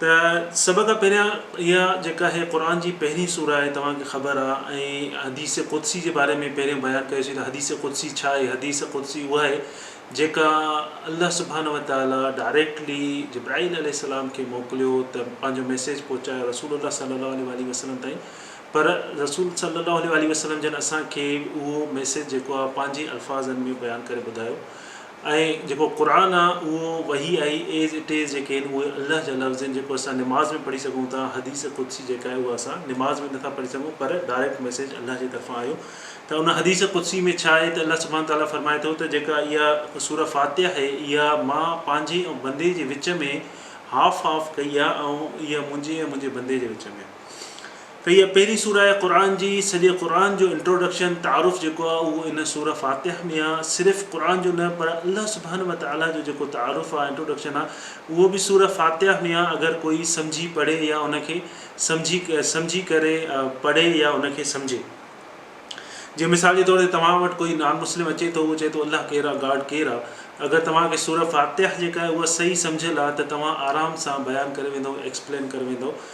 ته سڀ کان پهريان اها جيڪا هي قرآن جي پهرين سوره آهي توهان کي خبر آ ۽ حديث قدسي جي باري ۾ پهريون بيان ڪيو سين ته حديث قدسي ڇا آهي حديث قدسي اها آهي جيڪا الله سبحانه وتعالي ڊائريڪٽلي جبرائيل عليه السلام کي موڪليو ته پنهنجو ميسيج پهچايو رسول الله صلي الله عليه واٰله وسلم تائين پر رسول صلي الله عليه واٰله وسلم جن اسان کي اهو ميسيج جيڪو آ پنهنجي الفاظن ۾ بيان ڪري ٻڌايو ۽ جيڪو قرآن آ اهو وحي آهي As it is جيڪي آهن اهي الله جا لفظ آهن جيڪو اسان نماز ۾ پڙهي سگهون ٿا حديث قدسي جيڪا آهي اها اسان نماز ۾ نٿا پڙهي سگهون پر ڊائريڪٽ ميسيج الله جي طرفان آيو ته ان حديث قدسي ۾ ڇا آهي ته الله سبحانه تعاليٰ فرمائي ٿو ته جيڪا اها سورة فاتحه آهي اها مان پنهنجي ۽ بندي جي وچ ۾ هاف هاف ڪئي آهي ۽ اها منهنجي ۽ منهنجي بندي جي وچ ۾ ته اها پهرين سوره آهي قرآن جي، سڄي قرآن جو انٽروڊڪشن، تعارف، جيڪو آهي اهو ان سوره فاتحه ۾ آهي، صرف قرآن جو نه پر الله سبحانه وتعاليٰ جو جيڪو تعارف آهي، انٽروڊڪشن آهي، اهو به سوره فاتحه ۾ آهي، اگر ڪوئي سمجهي پڙهي يا ان کي سمجهي سمجهي ڪري پڙهي يا ان کي سمجهي. جيئن مثال جي طور تي توهان وٽ ڪوئي نان مسلم اچي ٿو اهو چئي ٿو الله ڪير آهي گاڊ ڪير آهي اگر توهان کي سوره فاتحه جيڪا آهي اها صحيح سمجهيل آهي ته توهان آرام سان بيان ڪري ويندو ايڪسپلين ڪري ويندو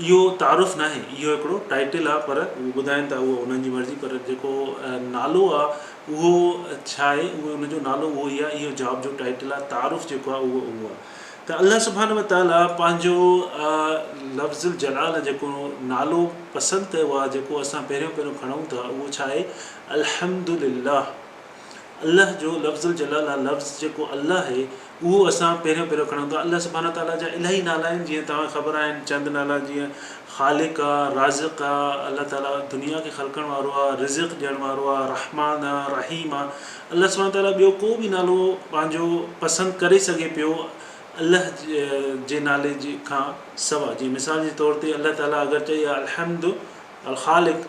اهو تعارف ناهي اهو هڪڙو ٽائيٽل آ پر هو ٻڌائين ٿا اهو انهن جي مرضي پر جيڪو نالو آ اهو ڇا آهي اهو ان جو نالو اهو ئي آ اهو جاب جو ٽائيٽل آ تعارف جيڪو آ اهو اهو آ ته الله سبحانه وتعاليٰ پنهنجو لفظ الجلال جيڪو نالو پسند ڪيو آ جيڪو اسان پهريون پهريون کڻون ٿا اهو ڇا آهي الحمدلله الله جو لفظ الجلال آ لفظ جيڪو الله آهي اهو اسان پهريون پهريون کڻون ٿا الله سبحانه تعاليٰ جا الاهي نالا آهن جيئن توهان کي خبر آهن چند نالا جيئن خالق آ رازق آ الله تعاليٰ دنيا کي خلقڻ وارو آ رزق ڏيڻ وارو آ رحمان آ رحيم آ الله سبحانه تعاليٰ ٻيو ڪو به نالو پنهنجو پسند ڪري سگهي پيو الله جي نالي جي کان سوا جي مثال جي طور تي الله تعاليٰ اگر چئي الحمد الخالق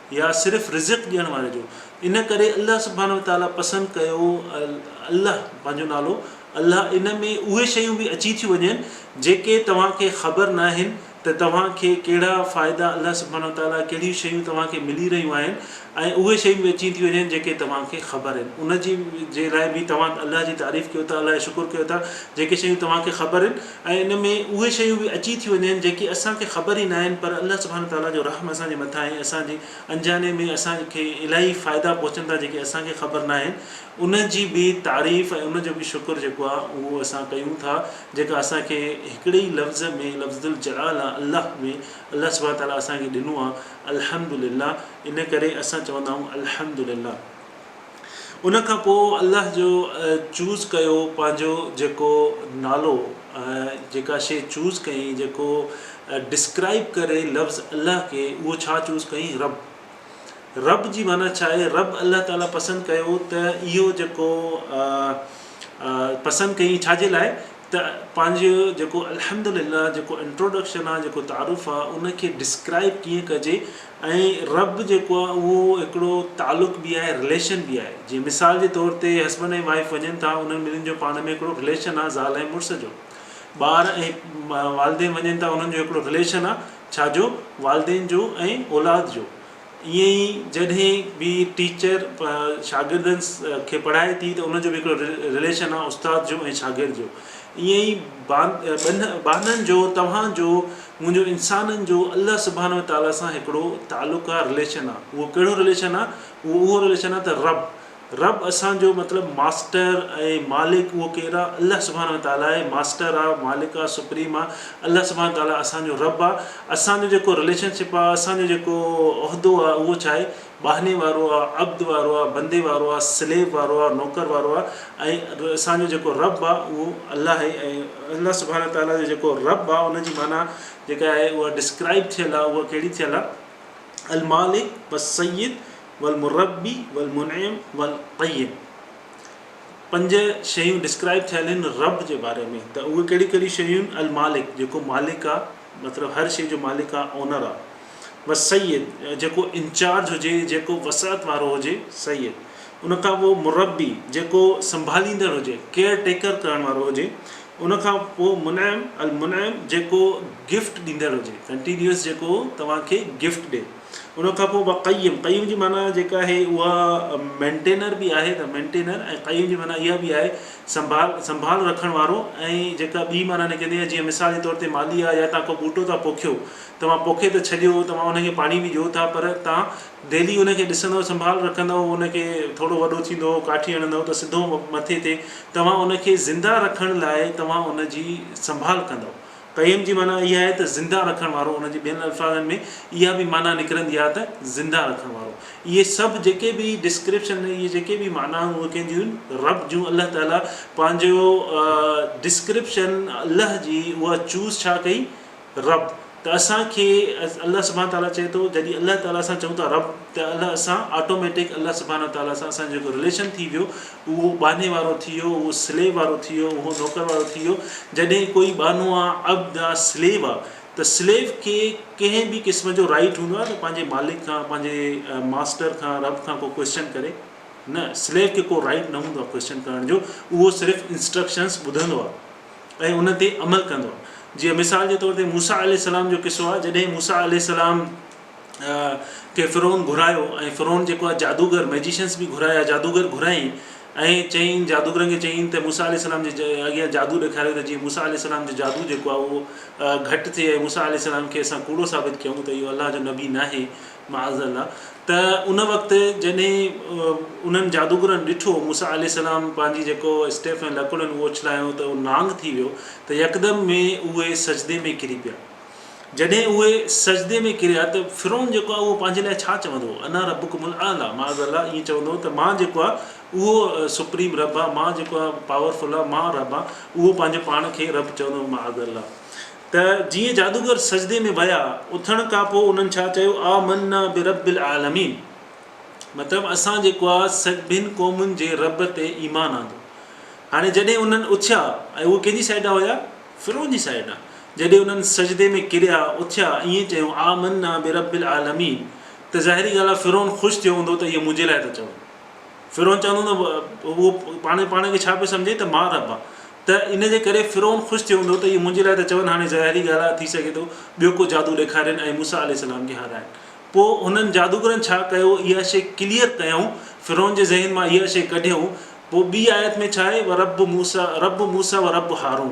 يا صرف رزق ڏيڻ واري جو ان ڪري الله سبحانه وتعالٰي پسند ڪيو الله پنهنجو نالو الله ان ۾ اهي شيون به اچي ٿيون وڃن جيڪي توهان کي خبر ناهن ته توهان کي ڪهڙا فائدا الله سبحانه وتعالٰي ڪهڙيون شيون توهان کي ملي رهيون آهن ۽ اهي شيون به اچي ٿيون وڃن جيڪي توهان کي خبر آهن ان جي جي لاء به توهان الله جي تعريف ڪيو ٿا الله جو شڪر ڪيو ٿا جيڪي شيون توهان کي خبر آهن ۽ ان ۾ اهي شيون به اچي ٿيون وڃن جيڪي اسان کي خبر ئي ناهن پر الله سبحانه وتعالٰي جو رحم اسان جي مٿان ۽ اسان جي انجاني ۾ اسان کي الاهي فائدا پهچن ٿا جيڪي اسان کي خبر ناهن ان جي به تعريف ۽ ان جو به شڪر جيڪو آهي اهو اسان ڪيون ٿا جيڪا اسان کي هڪڙي ئي لفظ ۾ لفظالجلاله الله ۾ الله سبحانه وتعالٰي اسان کي ڏنو آهي الحمدلله ان ڪري اسان چوندا آهيون الحمدلله. ان کان پوء الله جو چوز ڪيو پنهنجو جيڪو نالو جيڪا شيء چوز ڪيئين جيڪو ڊسڪرائب ڪري لفظ الله کي اهو ڇا چوز ڪيئين رب رب جي معنيٰ ڇا آهي رب الله تعالي پسند ڪيو ته اهو جيڪو پسند ڪيئين ڇا جي لاء ته پنهنجو جيڪو الحمد لله جيڪو انٽروڊڪشن آهي جيڪو تعارف آهي ان کي ڊسڪرائب ڪيئن ڪجي ۽ رب جيڪو آهي اهو هڪڙو تعلق به آهي رليشن به آهي جيئن مثال جي طور تي هسبنڊ ۽ وائيف وڃن ٿا انهن ٻنهن جو پاڻ ۾ هڪڙو رليشن آهي زال ۽ مڙس جو ٻار ۽ والدين وڃن ٿا انهن جو هڪڙو رليشن آهي ڇا جو والدين جو ۽ اولاد جو ائين ئي جڏهن به ٽيچر شاگردن کي پڙهائي ٿي ته ان جو به هڪڙو رليشن آهي استاد جو ۽ شاگرد جو ائين ئي ٻانهن جو توهان جو منهنجو انسانن جو الله سبحانه وتعاليٰ سان هڪڙو تعلق آ، رليشن آ، اهو ڪهڙو رليشن آ، اهو اهو رليشن آ ته رب، رب اسان جو مطلب ماسٽر ۽ مالڪ اهو ڪير آ، الله سبحانه وتعاليٰ آهي، ماسٽر آ، مالڪ آ، سپريم آ، الله سبحانه وتعاليٰ اسان جو رب آ، اسان جو جيڪو رليشن شپ آ، اسان جو جيڪو عهدو آ اهو ڇا آهي، ٻانهني وارو آ، عبد وارو آ، بندي وارو آ، Slave وارو آ، نوڪر وارو آ ۽ اسان جو جيڪو رب آ اهو الله آهي ۽ الله سبحانه وتعاليٰ جو جيڪو رب آ ان جي معنيٰ جيڪا آهي اها Describe ٿيل آ اها ڪهڙي ٿيل آ المالڪ والسيد والمربي والمنعم والقيم پنج شيون Describe ٿيل آهن رب جي باري ۾ ته اهي ڪهڙيون ڪهڙيون شيون آهن المالڪ جيڪو مالڪ آ. مطلب هر شيء جو مالڪ آ اونر آ بس سيد جيڪو انچارج هجي جيڪو وسعت وارو هجي سيد ان کان پوء مربي جيڪو سنڀاليندڙ هجي ڪيئر ٽيڪر ڪرڻ وارو هجي ان کان پوء منعم المنعم جيڪو گفٽ ڏيندڙ هجي ڪنٽينيوس جيڪو توهان کي گفٽ ڏي. ان کان پوء وقيم، قيوم جي معنيٰ جيڪا آهي اها مينٽينر به آهي ته مينٽينر ۽ قيوم جي معنيٰ اها به آهي سنڀال سنڀال رکڻ وارو ۽ جيڪا ٻي معنيٰ نڪرندي آهي جيئن مثال جي طور تي مالي آهي يا توهان ڪو ٻوٽو ٿا پوکيو توهان پوکي ته ڇڏيو توهان ان کي پاڻي به ڏيو ٿا پر توهان ڊيلي ان کي ڏسندو سنڀال رکندو ان کي ٿورو وڏو ٿيندو ڪاٺي هڻندو ته سڌو مٿي تي توهان ان کي زنده رکڻ لاء توهان ان جي سنڀال ڪندو قيم جي معنيٰ اها آهي ته زنده رکڻ وارو، ان جي ٻين الفاظن ۾ اها به معنيٰ نڪرندي آهي ته زنده رکڻ وارو. اهي سڀ جيڪي به ڊسڪرپشن ۽ اهي جيڪي به معنائون اهي ڪنهن جون آهن؟ رب جون الله تعاليٰ پنهنجو ڊسڪرپشن الله جي اها چوز ڇا ڪئي رب ته اسان کي الله سبحانه تعاليٰ چئي ٿو جڏهن الله تعاليٰ سان چئون ٿا رب ته الله اسان آٽوميٽڪ الله سبحانه تعاليٰ سان اسان جو جيڪو رليشن ٿي ويو اهو ٻانهي وارو ٿي ويو، اهو سليو وارو ٿي ويو، اهو نوڪر وارو ٿي ويو، جڏهن ڪوئي ٻانهو آ، عبد آ، سليو آ ته سليو کي ڪنهن به قسم جو رائيٽ هوندو آهي ته پنهنجي مالڪ کان، پنهنجي ماسٽر کان، رب کان ڪو ڪوئسچن ڪري؟ نه، سليو کي ڪو رائيٽ نه هوندو آهي ڪوئسچن ڪرڻ جو، اهو صرف انسٽرڪشنس ٻڌندو آهي ۽ ان تي عمل ڪندو آهي. جيئن مثال جي طور تي موسيٰ عليه السلام جو قصو آهي، جڏهن موسيٰ عليه السلام. کي فرعون گهرايو ۽ فرعون جيڪو آهي جادوگر، Magicians، به گهرايا، جادوگر گهرايائين ۽ چيائين جادوگرن کي چيائين ته موسيٰ عليه السلام جي اڳيان جادو ڏيکاريو ته جيئن موسيٰ عليه السلام جو جادو جيڪو آهي اهو گهٽ ٿئي ۽ موسيٰ عليه السلام کي اسان ڪوڙو ثابت ڪيون ته اهو الله جو نبي ناهي معاذ الله ته ان وقت جڏهن انهن جادوگرن ڏٺو موسيٰ عليه السلام پنهنجي جيڪو اسٽيف ۽ لڪڙن اهو اڇلايائون ته اهو نانگ ٿي ويو ته يڪدم ۾ اهي سجدي ۾ ڪري پيا. جڏهن اهي سجدي ۾ ڪريا ته فرعون جيڪو آهي اهو پنهنجي لاء ڇا چوندو هو انا ربڪم الاعليٰ معاذ الله ائين چوندو هو ته مان جيڪو آهي اهو سپريم رب آهيان مان جيڪو آهي پاور فل آهيان مان رب آهيان اهو پنهنجي پاڻ کي رب چوندو هو معاذ الله ته جيئن جادوگر سجدي ۾ ويا اٿڻ کان پوء انهن ڇا چيو آمنا برب العالمين مطلب اسان جيڪو آهي سڀن قومن جي رب تي ايمان آندو هاڻي جڏهن انهن اٿيا ۽ اهي ڪنهن جي سائيڊ هيا فرعون جي سائيڊ ڏانهن جڏهن انهن سجدي ۾ ڪريا اٿيا ائين چيو آمنا برب العالمين ته ظاهري ڳالهه آهي فرعون خوش ٿيو هوندو ته اهي منهنجي لاء ٿا چون فرعون چوندو نه اهو پاڻ پاڻ کي ڇا پيو سمجهي ته مان رب آهيان ته ان جي ڪري فرعون خوش ٿيو هوندو ته اهي منهنجي لاء ٿا چون هاڻي ظاهري ڳالهه آهي ٿي سگهي ٿو ٻيو ڪو جادو ڏيکارين ۽ موسيٰ عليه السلام کي هارائين پوء انهن جادوگرن ڇا ڪيو اها شيء ڪليئر ڪيائون، فرعون جي ذهن مان اها شيء ڪڍيائون، پوء ٻي آيت ۾ ڇا آهي ورب موسيٰ رب موسيٰ و رب هارون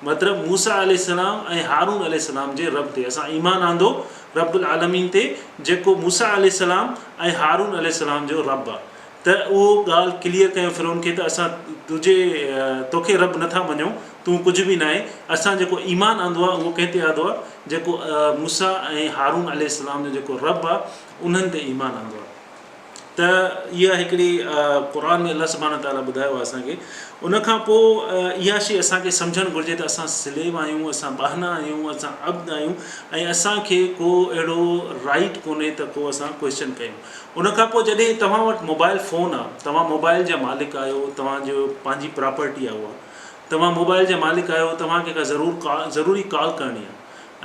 مطلب موسيٰ عليه السلام ۽ هارون عليه السلام جي رب تي اسان ايمان آندو رب العالمين تي جيڪو موسيٰ عليه السلام ۽ هارون عليه السلام جو رب آ. ته اهو ڳالهه ڪليئر ڪيو فرعون کي ته اسان تنهنجي توکي رب نه ٿا مڃون، تون ڪجهه به ناهين، اسان جيڪو ايمان آندو آهي اهو ڪنهن تي آڌو آهي؟ جيڪو موسيٰ ۽ هارون عليه السلام جو جيڪو رب آهي انهن تي ايمان آندو آهي. ته اها هڪڙي قرآن ۾ الله سبحانه وتعالٰي ٻڌايو آهي اسان کي ان کان پوء اها شيء اسان کي سمجهڻ گهرجي ته اسان سليو آهيون، اسان ٻانها آهيون، اسان عبد آهيون ۽ اسان کي ڪو اهڙو رائيٽ ڪونهي ته ڪو اسان ڪوئسچن ڪيون. ان کان پوء جڏهن توهان وٽ موبائل فون آ، توهان موبائل جا مالڪ آهيو، توهان جو پنهنجي پراپرٽي آ اها، توهان موبائل جا مالڪ آهيو، توهان کي ڪا ضرور ڪال ضروري ڪال ڪرڻي آ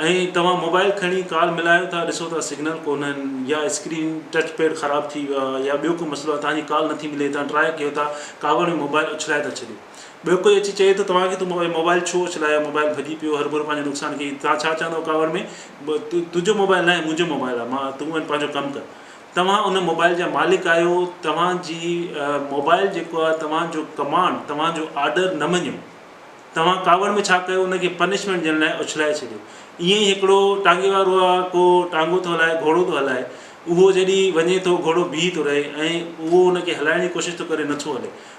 ۽ توهان موبائل کڻي ڪال ملايو ٿا ڏسو ٿا سگنل ڪونهن يا اسڪرين ٽچ پيڊ خراب ٿي ويو آ يا ٻيو ڪو مسئلو آ توهان جي ڪال نٿي ملي توهان ٽرائي ڪيو ٿا ڪاوڙ ۾ موبائل اڇلائي ٿا ڇڏيو. ٻيو ڪوئي اچي چئي ٿو توهان کي تون موبائل ڇو اڇلايو موبائل ڀڄي پيو هرگهر پنهنجو نقصان ڪيئي توهان ڇا چوندو ڪاوڙ ۾ تنهنجو موبائل ناهي منهنجو موبائل آهي مان تون هن پنهنجو ڪم ڪر توهان ان موبائل جا مالڪ آهيو توهان جي موبائل جيڪو آهي توهان جو ڪمانڊ توهان جو آرڊر نه مڃيو توهان ڪاوڙ ۾ ڇا ڪيو ان کي پنشمينٽ ڏيڻ لاء اڇلائي ڇڏيو ائين ئي هڪڙو ٽانگي وارو آهي ڪو ٽانگو ٿو هلائي گهوڙو ٿو هلائي اهو جڏهن وڃي ٿو گهوڙو بيهي ٿو رهي ۽ اهو ان کي هلائڻ جي ڪوشش ٿو ڪري نٿو هلي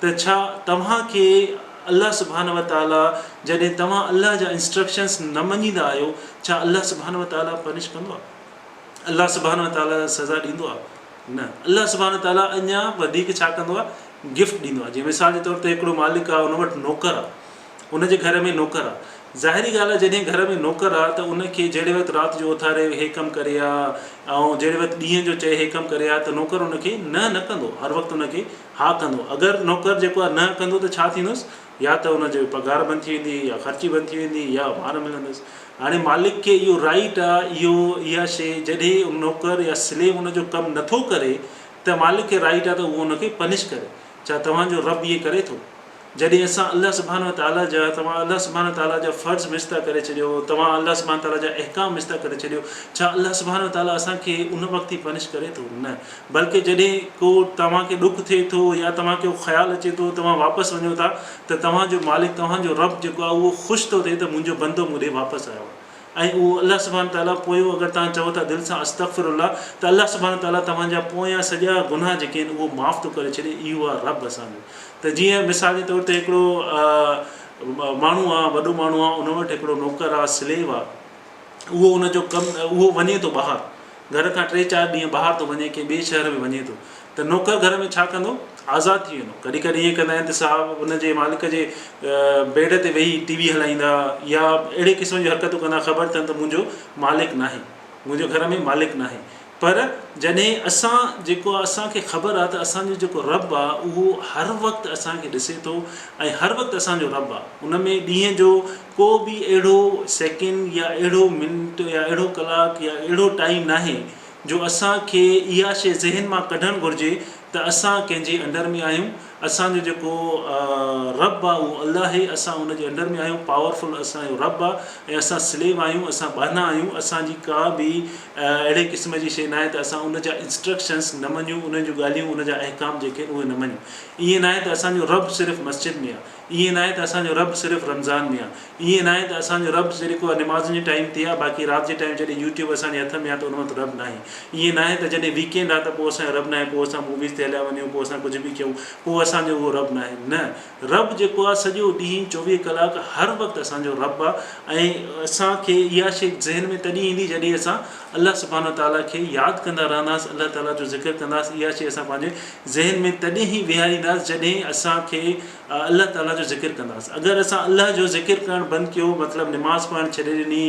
ته ڇا توهان کي الله سبحانه وتعاليٰ جڏهن توهان الله جا انسٽرڪشنس نه مڃيندا آهيو ڇا الله سبحانه وتعاليٰ پنش ڪندو آهي؟ الله سبحانه وتعاليٰ سزا ڏيندو آهي؟ نه الله سبحانه وتعاليٰ اڃا وڌيڪ ڇا ڪندو آهي گفٽ ڏيندو آهي جيئن مثال جي طور تي هڪڙو مالڪ آهي ان وٽ نوڪر آهي ان جي گهر ۾ نوڪر آهي ظاهري ڳالهه آهي جڏهن گهر ۾ نوڪر آهي ته ان کي جهڙي وقت رات جو اٿاري هي ڪم ڪري آء ۽ جهڙي وقت ڏينهن جو چئي هي ڪم ڪري آء ته نوڪر ان کي نه نه ڪندو هر وقت ان کي ها ڪندو. اگر نوڪر جيڪو آهي نه ڪندو ته ڇا ٿيندس؟ يا ته ان جي پگهار بند ٿي ويندي يا خرچي بند ٿي ويندي يا مار ملندس. هاڻي مالڪ کي اهو رائيٽ آ اهو اها شي جڏهن ان نوڪر يا سليو ان جو ڪم نٿو ڪري ته مالڪ کي رائيٽ آ ته اهو ان کي پنش ڪري. ڇا توهان جو رب ائين ڪري ٿو؟ جڏهن اسان الله سبحانه وتعاليٰ جا توهان الله سبحانه وتعاليٰ جا فرض مستعا ڪري ڇڏيو توهان الله سبحانه وتعاليٰ جا احڪام مستعا ڪري ڇڏيو ڇا الله سبحانه وتعاليٰ اسان کي ان وقت ئي پنش ڪري ٿو؟ نه بلڪه جڏهن ڪو توهان کي ڏک ٿئي ٿو يا توهان کي اهو خيال اچي ٿو توهان واپس وڃو ٿا ته توهان جو مالڪ توهان جو رب جيڪو آهي اهو خوش ٿو ٿئي ته منهنجو بندو مون ڏي واپس آيو آهي. ۽ اهو الله سبحانه تعاليٰ پوء اگر توهان چئو ٿا دل سان استغفر الله ته الله سبحانه تعاليٰ توهان جا پويان سڄا گناهه جيڪي آهن اهو معاف ٿو ڪري ڇڏي اهو آهي رب اسان جو ته جيئن مثال جي طور تي هڪڙو ماڻهو آهي وڏو ماڻهو آهي ان وٽ هڪڙو نوڪر آهي سليو آهي اهو ان جو ڪم اهو وڃي ٿو ٻاهر گهر کان ٽي چار ڏينهن ٻاهر ٿو وڃي، ڪنهن ٻئي شهر ۾ وڃي ٿو ته نوڪر گهر ۾ ڇا ڪندو؟ آزاد ٿي ويندو. ڪڏهن ڪڏهن ائين ڪندا آهن ته صاحب ان جي مالڪ جي بيڊ تي ويهي ٽي وي هلائيندا يا اهڙي قسم جون حرڪتون ڪندا خبر اٿن ته منهنجو مالڪ ناهي، منهنجو گهر ۾ مالڪ ناهي. پر جڏهن اسان جيڪو آهي اسان کي خبر آهي ته اسان جو جيڪو رب آهي اهو هر وقت اسان کي ڏسي ٿو ۽ هر وقت اسان جو رب آهي ان ۾ ڏينهن جو ڪو به اهڙو سيڪنڊ يا اهڙو منٽ يا اهڙو ڪلاڪ يا اهڙو ٽائيم ناهي جو اسان کي اها شيء ذهن مان ڪڍڻ گهرجي ته اسان ڪنهن جي انڊر ۾ آهيون اسان جو جيڪو رب آهي اهو الله هي اسان ان جي انڊر ۾ آهيون پاورفل اسان جو رب آهي ۽ اسان سليو آهيون اسان ٻانها آهيون اسان جي ڪا به اهڙي قسم جي شيء ناهي ته اسان ان جا انسٽرڪشنس نه مڃون انهن جون ڳالهيون ان جا احڪام جيڪي آهن اهي نه مڃون ائين ناهي ته اسان جو رب صرف مسجد ۾ آهي ائين ناهي ته اسان جو رب صرف رمضان ۾ آ. ائين ناهي ته اسان جو رب صرف اها نمازن جي ٽائيم تي آ باقي رات جي ٽائيم جڏهن يوٽيوب اسان جي هٿ ۾ آ ته ان وقت رب ناهي. ائين ناهي ته جڏهن ويڪينڊ آ ته پوء اسان جو رب ناهي پوء اسان موويز تي هليا وڃون پوء اسان ڪجهه به ڪيون پوء اسان جو اهو رب ناهي. نه رب جيڪو آ سڄو ڏينهن چوويهه ڪلاڪ هر وقت اسان جو رب آ ۽ اسان کي اها شيء ذهن ۾ تڏهن ايندي جڏهن اسان الله سبحانه وتعالٰي کي ياد ڪندا رهنداس الله تعالٰي جو ذڪر ڪنداس اها شيء اسان پنهنجي ذهن ۾ تڏهن ئي ويهارينداس جڏهن اسان کي الله تعالي جو ذڪر ڪنداس اگر اسان الله جو ذڪر ڪرڻ بند ڪيو مطلب نماز پڙهڻ ڇڏي ڏني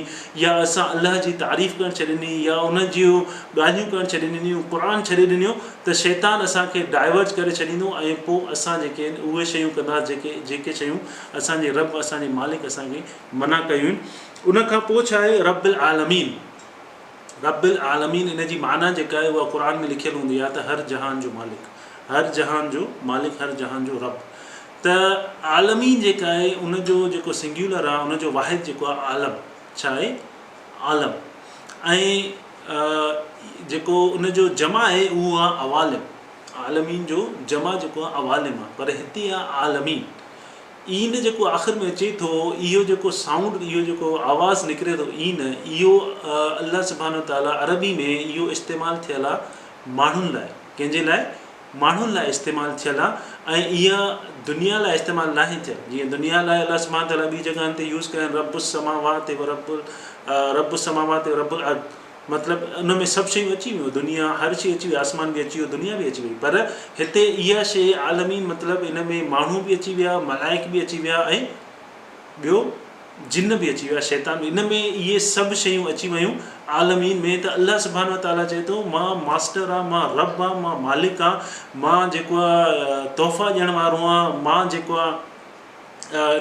يا اسان الله جي تعريف ڪرڻ ڇڏي ڏني يا ان جون ڳالهيون ڪرڻ ڇڏي ڏنيون قرآن ڇڏي ڏنيو ته شيطان اسان کي ڊائيورٽ ڪري ڇڏيندو ۽ پوء اسان جيڪي آهن اهي شيون ڪنداس جيڪي جيڪي شيون اسان جي رب اسان جي مالڪ اسان کي منع ڪيون آهن ان کان پوء ڇا آهي رب العالمين رب العالمين ان جي معنيٰ جيڪا آهي اها قرآن ۾ لکيل هوندي آهي ته هر جهان جو مالڪ، هر جهان جو مالڪ، هر جهان جو رب. ته عالمين جيڪا آهي ان جو جيڪو سنگيولر آهي ان جو واحد جيڪو آهي عالم ڇا آهي عالم ۽ جيڪو ان جو جمع آهي اهو آهي عوالم عالمين جو جمع جيڪو آهي عوالم آهي پر هتي آهي عالمين. عين جيڪو آخر ۾ اچي ٿو، اهو جيڪو سائونڊ، اهو جيڪو آواز نڪري ٿو عين، اهو الله سبحانه وتعاليٰ عربي ۾ اهو استعمال ٿيل آ ماڻهن لاء، ڪنهن جي لاء؟ ماڻهن لاء استعمال ٿيل آ ۽ اها دنيا لاء استعمال ناهي ٿيل، جيئن دنيا لاء الله سبحانه وتعاليٰ ٻي جڳهن تي يوز ڪيا آهن رب السماوات ورب رب السماوات ورب الارض، مطلب ان ۾ سڀ شيون اچي ويون دنيا هر شي اچي وئي آسمان به اچي ويو دنيا به اچي وئي پر هتي اها شي عالمي مطلب ان ۾ ماڻهو به اچي ويا ملائڪ به اچي ويا ۽ ٻيو جن به اچي ويا شيطان به ان ۾ اهي سڀ شيون اچي ويون عالمين ۾ ته الله سبحانه وتعاليٰ چئي ٿو مان ماسٽر آ مان رب آ مان مالڪ آ مان جيڪو آ تحفا ڏيڻ وارو آ مان جيڪو آ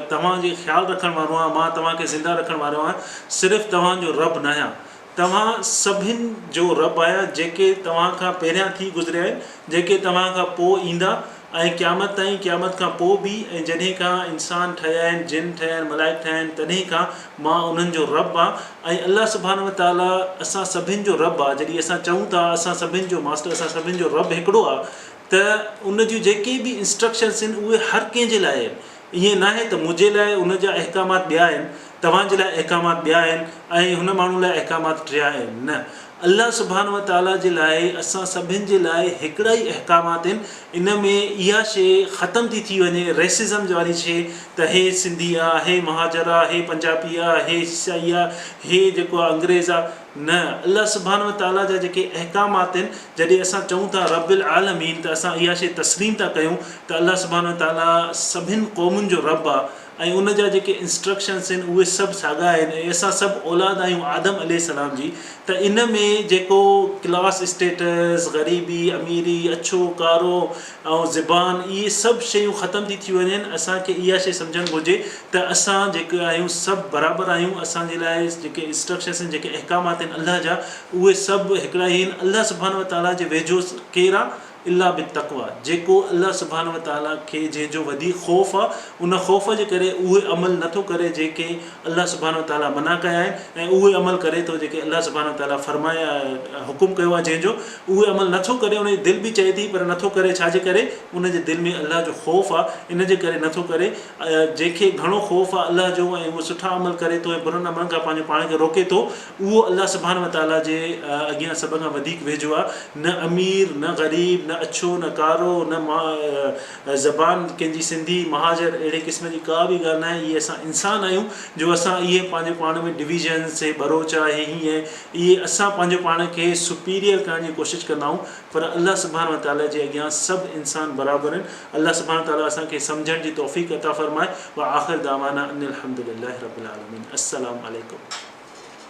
توهان جي خيال رکڻ وارو آهيان، مان توهان کي زنده رکڻ وارو آهيان، صرف توهان جو رب ناهيان، توهان سڀن جو رب آهيان، جيڪي توهان کان پهريان ٿي گذريا آهن، جيڪي توهان کان پوء ايندا، ۽ قيامت تائين، قيامت کان پوء به، ۽ جڏهن کان انسان ٺهيا آهن، جن ٺهيا آهن، ملائڪ ٺهيا آهن، تڏهن کان مان انهن جو رب آهيان، ۽ الله سبحانه وتعاليٰ اسان سڀن جو رب آهي، جڏهن اسان چئون ٿا، اسان سڀن جو ماسٽر، اسان سڀن جو رب هڪڙو آهي، ته ان جون جيڪي به انسٽرڪشنس آهن اهي هر ڪنهن جي لاء آهن ائين ناهي ته منهنجي لاء ان جا احڪامات ٻيا آهن توهان جي لاء احڪامات ٻيا آهن ۽ هن ماڻهو لاء احڪامات ٽيا آهن نه الله سبحانه وتعالٰي جي لاء اسان سڀن جي لاء هڪڙا ئي احڪامات آهن ان ۾ اها شي ختم ٿي ٿي وڃي ريسزم واري شي ته هي سنڌي آ هي مهاجر آ هي پنجابي آ هي سيائي آ هي جيڪو آ انگريز آ نه، الله سبحانه وتعاليٰ جا جيڪي احڪامات آهن، جڏهن اسان چئون ٿا رب العالمين ته اسان اها شيء تسليم ٿا ڪيون ته الله سبحانه وتعاليٰ سڀن قومن جو رب آهي ۽ ان جا جيڪي Instructions آهن اهي سڀ ساڳا آهن ۽ اسان سڀ اولاد آهيون آدم عليه السلام جي ته ان ۾ جيڪو Class Status، غريبي، اميري، اڇو، ڪارو، ۽ زبان اهي سڀ شيون ختم ٿي ٿي وڃن اسان کي اها شي سمجهڻ گهرجي ته اسان جيڪي آهيون سڀ برابر آهيون اسان جي لاء جيڪي اسٽرڪشرس آهن جيڪي احڪامات آهن الله جا اهي سڀ هڪڙا ئي آهن الله سبحانه وتعالي جي ويجهو ڪير آ الا بالتقويٰ جيڪو الله سبحانه وتعالي کي جنهن جو وڌيڪ خوف آ ان خوف جي ڪري اهي عمل نٿو ڪري جيڪي الله سبحانه وتعالٰي منع ڪيا آهن ۽ اهي عمل ڪري ٿو جيڪي الله سبحانه وتعالٰي فرمايا حڪم ڪيو آهي جنهن جو اهي عمل نه ٿو ڪري ان جي دل به چئي ٿي پر نه ٿو ڪري ڇا جي ڪري ان جي دل ۾ الله جو خوف آهي ان جي ڪري نه ٿو ڪري جنهن کي گهڻو خوف آهي الله جو ۽ اهو سٺا عمل ڪري ٿو ۽ برن عملن کان پنهنجو پاڻ کي روڪي ٿو اهو الله سبحانه وتعالٰي جي اڳيان سڀ کان وڌيڪ ويجهو آهي نه امير نه غريب نه اڇو نه ڪارو نه زبان ڪنهن جي سنڌي، مهاجر اهڙي قسم جي ڪا به ڳالهه ناهي، اهي اسان انسان آهيون جو اسان اهي پنهنجو پاڻ ۾ ڊويزنس، هي ٻروچ آ، هي هيئن آهي، اهي اسان پنهنجو پاڻ کي سپيريئر ڪرڻ جي ڪوشش ڪندا آهيون پر الله سبحانه وتعاليٰ جي اڳيان سڀ انسان برابر آهن، الله سبحانه وتعاليٰ اسان کي سمجهڻ جي توفيق عطا فرمائي، وآخر دعوانا ان الحمدلله رب العالمين السلام عليڪم.